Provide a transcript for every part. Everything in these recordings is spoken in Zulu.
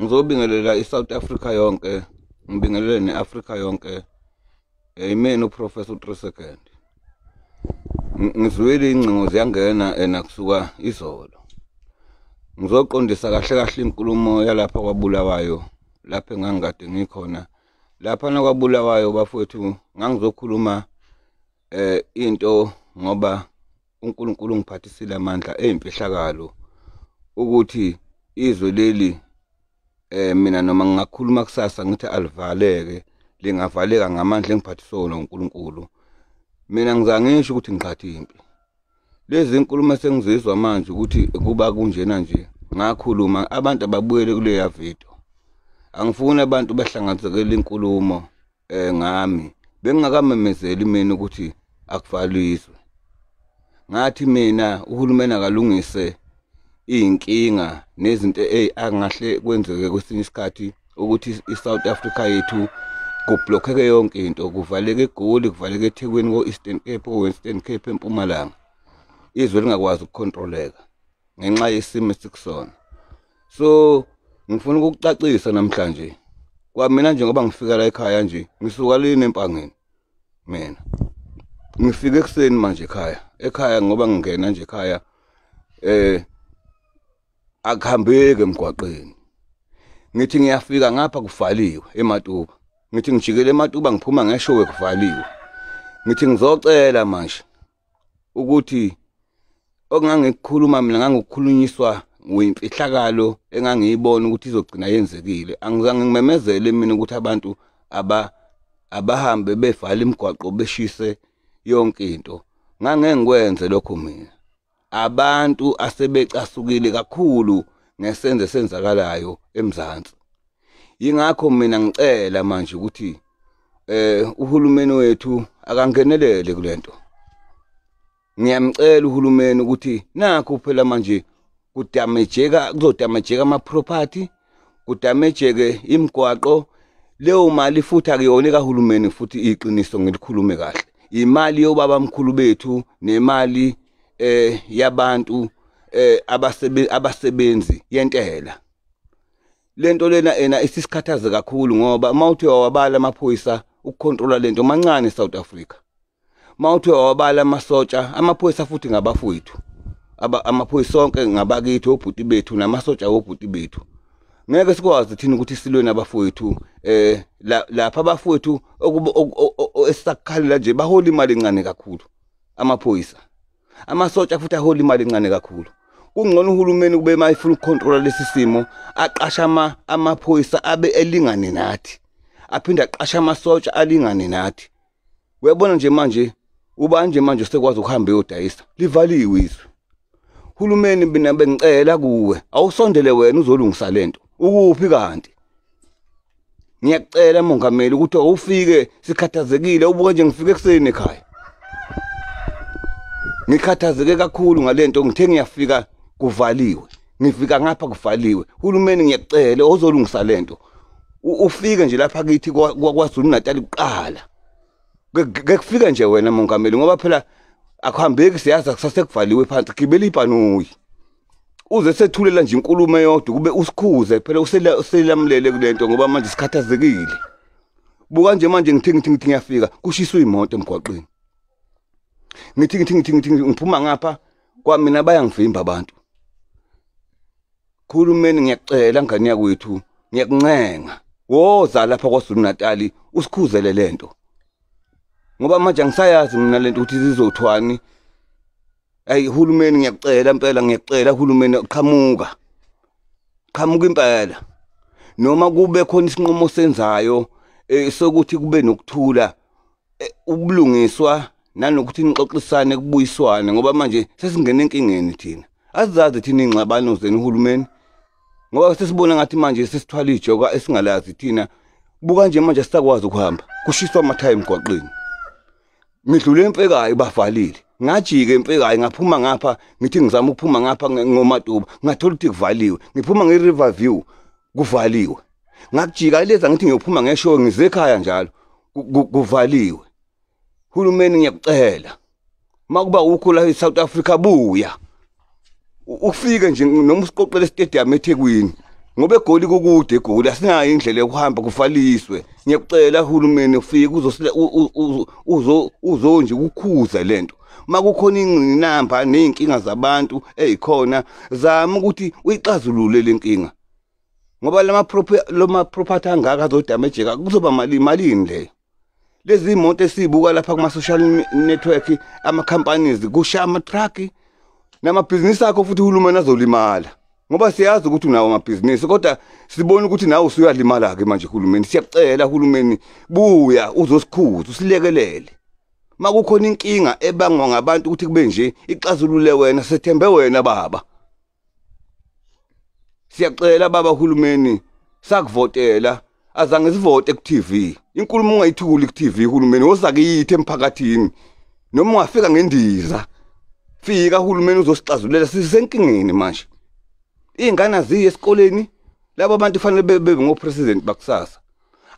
ngizobingelela i-south africa yonke ngibingelele ne-afrika yonke yimina uprofessor u-three second ngizwile iy'ngcingo ziyangena ena kusuka izolo ngizoqondisa kahle kahle inkulumo yalapha kwabulawayo lapho engangikade ngikhona lapha nakwabulawayo bafowethu ngangizokhuluma eh into ngoba uNkulunkulu ungiphathisile amandla eyimfihlakalo ukuthi izwe leli eh mina noma ngingakhuluma kusasa ngithi alivaleke lingavaleka ngamandla engiphathisona uNkulunkulu mina ngizangisho ukuthi ngiqhatha impi lezi nkulumo sengizizwa manje ukuthi kuba kunjena nje ngakhuluma abantu ababuyele kuleya video angifuni abantu bahlanganisekele inkulumo eh ngami bengingakamemezeli mina ukuthi akuvalwe izwe ngathi mina uhulumeni akalungise izinkinga nezinto ezingahle kwenzeke kwesinye isikhathi ukuthi iSouth Africa yethu kublokheke yonke into kuvaleke egoli kuvaleke ethekwini ko-eastern cape ko-western cape empumalanga izwe lingakwazi ukukhontroleka ngenxa yesimo esikusona so ngifuna ukukucacisa namhlanje kwamina nje ngoba ngifika la ekhaya nje ngisuka lini empangeni mina ngifike ekuseni manje ekhaya ekhaya ngoba ngingena nje ekhaya eh akuhambeki emgwaqeni ngithi ngiyafika ngapha kuvaliwe ematuba ngithi ngijikele ematuba ngiphuma ngeshowe kuvaliwe ngithi ngizocela manje ukuthi okungangikukhuluma mina ngangikhulunyiswa nguyimfihlakalo engangiyibona ukuthi izogcina yenzekile angizange ngimemezele mina ukuthi abantu aba abahambe bevala imigwaqo beshise yonke into ngangeke ngikwenze lokho mina abantu asebecasukile kakhulu ngesenzo esenzakalayo eMzansi yingakho mina ngicela manje ukuthi eh uhulumeni wethu akangenelele kulento ngiyamcela uhulumeni ukuthi nakho phela manje kudamejeka kuzodamejeka ama property kudamejeke imigwaqo leyo mali futhi akuyona kahulumeni futhi iqiniso ngilikhulume kahle imali yobaba mkhulu bethu nemali eh yabantu eh abasebenzi yentela lento lena ena isisikhathaze kakhulu ngoba uma uthi wawabala amaphoyisa ukukhontrola lento mancane eSouth Africa uma uthi wawabala amasotsha amaphoyisa futhi ngabafowethu amaphoyisa sonke ngabakithi obhuti bethu namasotsha wobhuti bethu ngeke sikwazi thina ukuthi silwe nabafowethu eh lapha abafowethu esakukhalela nje bahola imali encane kakhulu amaphoyisa amasotsha futhi ahola imali encane kakhulu kungcono uhulumeni kube uma efuna ukukhontrola lesi simo aqasha amaphoyisa abe elingane nathi aphinde aqasha amasotsha alingane nathi uyabona nje manje ubanje manje sekwazi ukuhamba eyodayisa livaliwe izwe hulumeni mina bengicela kuwe awusondele wena uzolungisa lento ukuphi kanti ngiyacela mongameli ukuthi awufike sikhathazekile ubuke nje ngifike ekuseni ekhaya ngikhathazeke kakhulu ngalento ngithe ngiyafika kuvaliwe ngifika ngapha kuvaliwe hulumeni ngiyacela ozolungisa lento ufike nje lapha kithi kwaKwaZulu Natal kuqala kekufike nje wena mongameli ngoba phela akuhambeki siyazi akusasekuvaliwe phansi gibela ibhanoyi uze sethulela nje inkulumo eyodwa kube usikhuze phela uselamulele kulento ngoba manje sikhathazekile buka nje manje ngithi ngithi ngithi ngiyafika kushiswa imoto emgwaqweni ngithi ngithi ngithi ngithi ngiphuma ngapha kwamina bayangivimba abantu Khulumeni ngiyacela ngane yakwethu ngiyakuncenga woza lapha kwaZulu Natal usikhuzele lento ngoba manje angisayazi mina lento ukuthi zizothwani ayi hulumeni ngiyakucela impela ngiyakucela hulumeni qhamuka qhamuka impela noma kube khona isinqumo senzayo eh, sokuthi kube nokuthula eh, ubulungiswa nanokuthi nixoxisane kubuyiswane ngoba manje sesingena enkingeni thina azizazi thina ingxabano zenu uhulumeni ngoba sesibona ngathi manje sesithwala ijoka esingalazi thina buka nje manje sisakwazi ukuhamba kushiswa amathayi emgwaqeni ngidlule emfekayo bavalile ngajike emfekayo ngaphuma ngapha ngithi ngizama ukuphuma ngapha ngomatuba ngathola ukuthi kuvaliwe ngiphuma nge-river view kuvaliwe ngakujika ileza ngithi ngiyophuma ngeshow ngizekhaya njalo kuvaliwe hulumeni ngiyakucela makuba ukho la eSouth Africa buya ufike nje noma usiqoqele stadium eThekwini ngoba egoli kukude egoli asinayo indlela yokuhamba kufaliswe ngiyakucela uhulumeni ufike uzosile uzo uzo nje ukukhuza lento makukhona ingqinamba nezinkinga zabantu ezikhona zama ukuthi uyixazulule lenkinga ngoba lama loma property angaka azodamejeka kuzoba mali malini leyo lezi moto esibuka lapha kuma social network ama companies kusha ama truck nama business akho futhi uhulumeni azolimala ngoba siyazi ukuthi unawo amabhizinisi kodwa sibona ukuthi nawe usuyalimala ke manje uhulumeni siyakucela uhulumeni buya uzosikhuza usilekelele makukhona inkinga ebangwa ngabantu ukuthi kube nje ixazulule wena sethembe wena baba Siyaxela baba hulumeni sakuvotela azange sivote ku TV inkulumo ungayithuli ku TV hulumeni wozakiyithi emphakathini noma ungafika ngendiza fika hulumeni uzosixazulela sisenkingeni manje ingane aziye esikoleni laba bantu fanele bebe ngo president bakusasa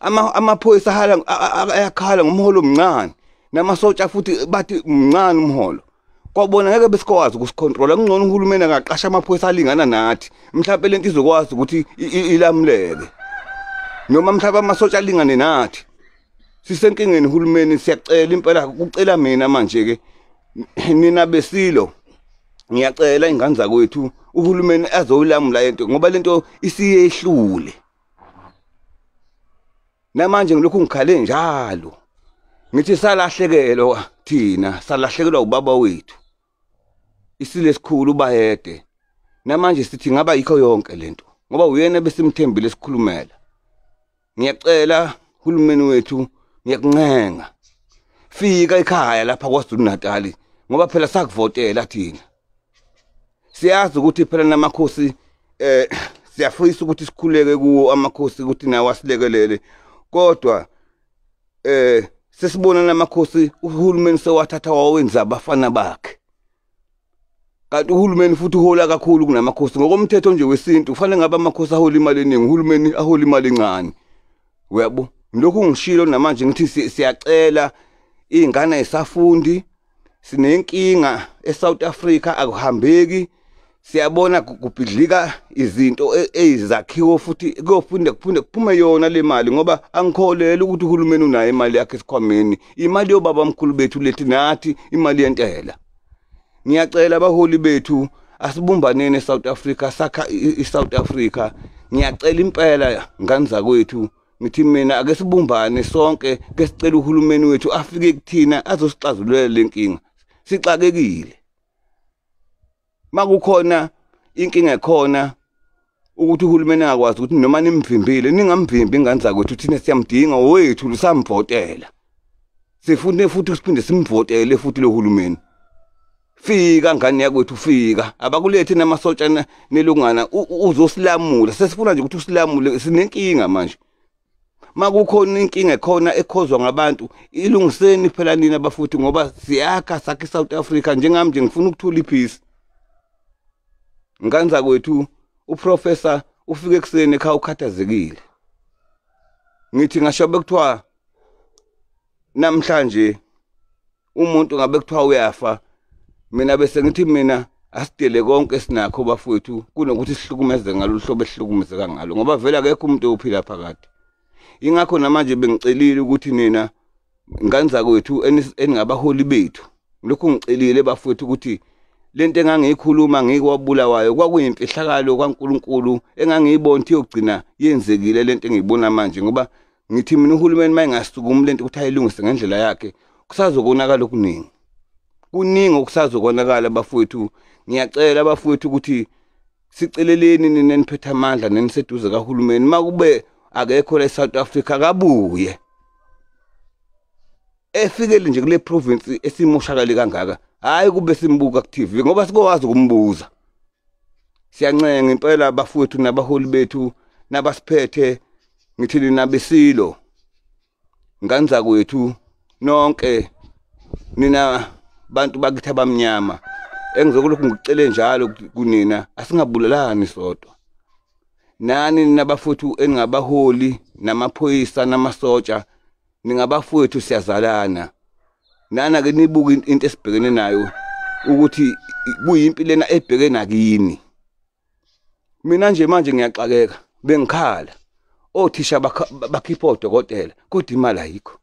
ama amaphoyisa hala ayakhala ngomholo omncane namasotsha futhi bathi mncane umholo kwabona ngeke besikwazi ukusicontrola kungcono uhulumeni akaqasha amaphoyisa alingana nathi mhlawumbe lento izokwazi ukuthi ilamuleke noma mhlawumbe amasotsha alingane nathi sisenkingeni uhulumeni siyacela impela kucela mina manje ke nina besilo ngiyacela ingane zakwethu uhulumeni azoyilamula into ngoba lento isiyehlule namanje ngilokhu ngikhale njalo ngithi salahlekelwa thina salahlekelwa ubaba wethu isile sikhulu ubayede namanje sithi ngaba yikho yonke lento ngoba uyena besimthembile sikhulumela ngiyacela uhulumeni wethu ngiyakuncenga fika ekhaya lapha kwaZulu Natali ngoba phela sakuvotela thina siyazi ukuthi phela namakhosi eh siyafisa ukuthi sikhuleke kuwo amakhosi ukuthi nawo asilekelele kodwa eh sesibona namakhosi uhulumeni sewathatha wawenza abafana bakhe kanti uhulumeni futhi uhola kakhulu kunamakhosi ngokomthetho nje wesintu kufanele ngabe amakhosi ahola imali eningi uhulumeni ahola imali encane uyabo lokhu ngishilo namanje ngithi siyacela iy'ngane ay'safundi sinenkinga eSouth Africa akuhambeki siyabona kubhidlika izinto e, ezakhiwo futhi kuyophinde kuphinde kuphume yona le mali ngoba angikholeli ukuthi uhulumeni unayo imali yakhe esikhwameni imali yobaba mkhulu bethu lethi nathi imali yentela ngiyacela abaholi bethu asibumbaneni eSouth Africa sakha iSouth Africa ngiyacela impela ngani zakwethu ngithi mina ake sibumbane sonke ke sicela uhulumeni wethu afike kuthina azosixazululela lenkinga sixakekile makukhona inkinga ekhona ukuthi uhulumeni angakwazi ukuthi noma nimvimbile ningamvimbi ingane zakwethu thina siyamdinga wethu lusamvotela sifune futhi siphinde simvotele futhi lo hulumeni fika ngane yakwethu fika abakulethi namasotshana nelungana uzosilamula sesifuna nje ukuthi usilamule sinenkinga manje makukhona inkinga ekhona ekhozwa ngabantu ilungiseni phela nini abafuthi ngoba siyakha sakhe South Africa njengami nje ngifuna ukuthula ipeace nganza kwethu uprofessor ufike ekuseni ekhaya ukhathazekile ngithi ngasho bekuthiwa namhlanje umuntu ngabe kuthiwa uyafa mina bese ngithi mina asidele konke sinakho bafowethu kunokuthi sihlukumeze ngalo hlobo esihlukumezeka ngalo ngoba vele akekho umuntu ophila phakade ingakho namanje bengicelile ukuthi nina nganza kwethu eningabaholi bethu lokhu ngicelile bafowethu ukuthi lento engangiyikhuluma ngikwabulawayo kwakuyimfihlakalo kaNkuluNkulu engangiyibona ukuthi yogcina yenzekile lento engiyibona manje ngoba ngithi mina uhulumeni uma engasukumi lento ukuthi ayilungise ngendlela yakhe kusazokonakala okuningi kuningi okusazokonakala bafowethu ngiyacela bafowethu ukuthi siceleleni nina niphethe amandla neniseduze kahulumeni uma kube akekho la e-south africa akabuye efikele nje kule province esimoshakale kangaka hhayi kube simbuka ku-tv ngoba sikowazi ukumbuza siyancenga impela bafowethu nabaholi bethu nabasiphethe ngithi nina besilo nganza kwethu nonke nina bantu bakithi abamnyama engizokulokhu ngicele njalo kunina asingabulalani sodwa nani nabafuthu eningabaholi namaphoyisa namasotsha ningabafowethu siyazalana nana ke nibuka into esibhekene nayo ukuthi kuyimpi lena ebheke nakini mina nje manje ngiyaxakeka bengikhala othisha bakhipha odokotela kodwa imali ayikho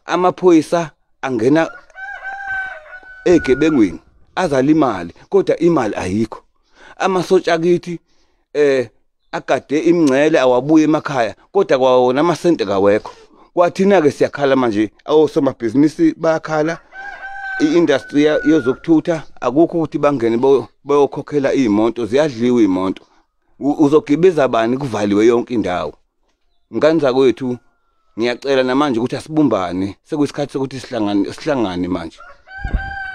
amaphoyisa angena egebengwini azala imali kodwa imali ayikho amasotsha kithi eh agade imngcele awabuye emakhaya kodwa kwawona amasente kawekho kwathina-ke siyakhala manje awosomabhizinisi bayakhala i-industry yezokuthutha akukho ukuthi bangene bayokhokhela iy'moto ziyadliwa iy'moto uzogibiza bani kuvaliwe yonke indawo ngane zakwethu ngiyacela namanje ukuthi asibumbane sekuyisikhathi sokuthi sihlangane sihlangane manje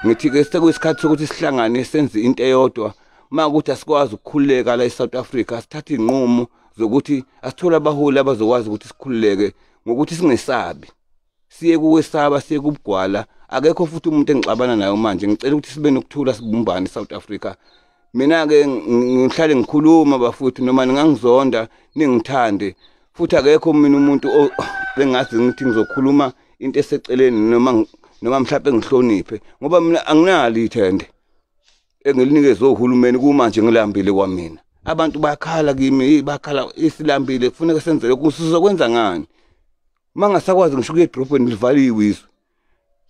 ngithi ke sekuyisikhathi sokuthi sihlangane senze into eyodwa uma ukuthi asikwazi ukukhululeka la e-south africa sithathe iy'nqumo zokuthi asithole abaholi abazokwazi ukuthi sikhululeke ngokuthi singesabi siye kuwesaba siye kubugwala akekho futhi umuntu engixabana nayo manje ngicela ukuthi sibe nokuthula sibumbane e-south africa mina-ke ngihlale ngikhuluma bafuthi noma ningangizonda ningithande futhi akekho mina umuntu bengazi ngithi ngizokhuluma into eseceleni noma noma mhlawumbe ngihloniphe ngoba mina anginalo ithende engilinikeze ohulumeni kumanje ngilambile kwamina abantu bakhala kimi bakhala isilambile kufuneka senzele kusizokwenza ngani uma ngasakwazi ngisho kuye edrobheni livaliwe izwe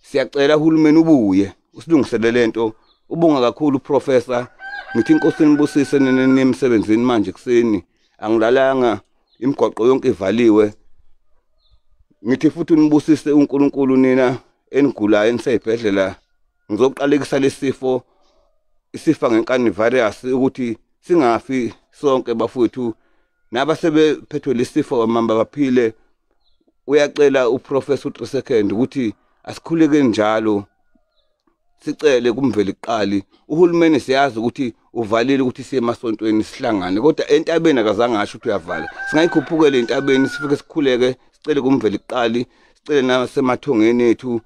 siyacela uhulumeni ubuye usilungisele lento ubonga kakhulu uprofessor ngithi inkosi nibusise nemsebenzini manje kuseni angilalanga imigwaqo yonke ivaliwe ngithi futhi unibusise uNkulunkulu nina enigulayo eniseyibhedlela ngizoqalekisa lesifo isifa ngenkani virus ukuthi singafi sonke bafowethu naba sebephethwe lesifo kamamba baphile uyacela uprofessor uTrisecond ukuthi asikhuleke njalo sicele kumveli qali uhulumeni siyazi ukuthi uvalile ukuthi siye emasontweni sihlangane kodwa entabeni akazange asho ukuthi uyavala singayikhuphukele entabeni sifike sikhuleke sicele kumveli qali sicele nasemathongeni ethu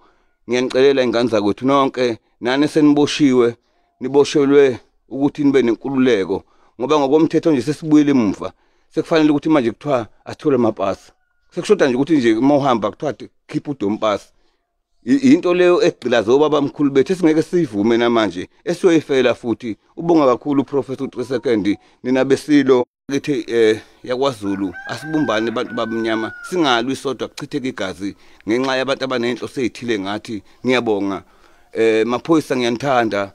ngiyanicelela ingane zakwethu nonke nani seniboshiwe niboshelwe ukuthi nibe nenkululeko ngoba ngokomthetho nje sesibuyile emuva sekufanele ukuthi manje kuthiwa asithole amapasi sekushoda nje ukuthi nje uma uhamba kuthiwa khipha udompasi yinto leyo egqilaze obaba mkhulu bethu esingeke siyivume namanje esiyoyifela futhi ubonga kakhulu uprofessor u-3 second nina besilo kithi eh yakwaZulu asibumbane abantu babumnyama singalwi sodwa kuchitheke igazi ngenxa yabantu abanenhloso ezithile ngathi ngiyabonga eh maphoyisa ngiyanithanda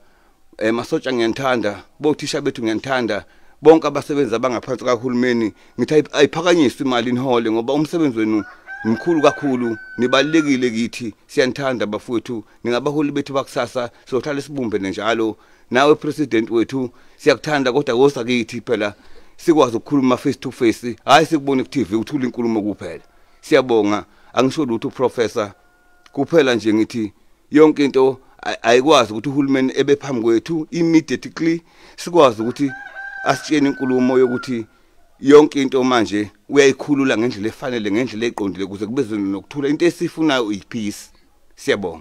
eh masotsha ngiyanithanda bothisha bethu ngiyanithanda bonke abasebenzi abangaphansi kahulumeni ngithi ayiphakanyiswe imali inihole ngoba umsebenzi wenu mkhulu kakhulu nibalekile kithi siyanithanda bafowethu ningabaholi bethu bakusasa sohlale sibumbene njalo nawe president wethu siyakuthanda kodwa wosa kithi phela sikwazi ukukhuluma face to face hayi sikubone ku TV uthula inkulumo kuphela siyabonga angisho lutho professor kuphela nje ngithi yonke into ayikwazi ukuthi uhulumeni ebe phambi kwethu immediately sikwazi ukuthi asitshene inkulumo yokuthi yonke into manje uyayikhulula ngendlela efanele ngendlela eqondile kuze kube nokuthula into esifunayo uyiphisi siyabonga